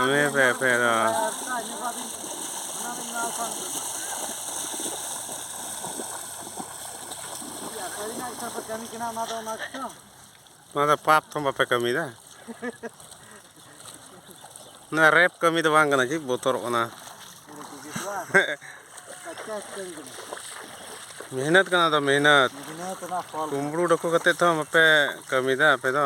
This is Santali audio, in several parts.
ᱯᱮ ᱯᱮ ᱯᱮ ᱚᱱᱟ ᱫᱚ ᱯᱟᱯ ᱛᱚᱢ ᱵᱟᱯᱮ ᱠᱟᱹᱢᱤᱭᱮᱫᱟ ᱚᱱᱟ ᱨᱮᱯ ᱠᱟᱹᱢᱤ ᱫᱚ ᱵᱟᱝ ᱠᱟᱱᱟ ᱪᱮᱫ ᱵᱚᱛᱚᱨᱚᱜ ᱠᱟᱱᱟ ᱢᱮᱦᱱᱚᱛ ᱠᱟᱱᱟ ᱫᱚ ᱢᱮᱦᱱᱚᱛ ᱠᱩᱢᱵᱽᱲᱩ ᱰᱟᱹᱠᱩ ᱠᱟᱛᱮ ᱛᱚ ᱵᱟᱯᱮ ᱠᱟᱹᱢᱤᱭᱮᱫᱟ ᱟᱯᱮ ᱫᱚ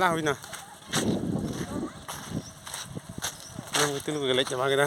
ᱞᱟ ᱦᱩᱭᱱᱟ ᱚᱱᱟ ᱜᱤᱛᱤᱞ ᱠᱚ ᱜᱮᱞᱮᱡ ᱪᱟᱵᱟ ᱠᱮᱫᱟ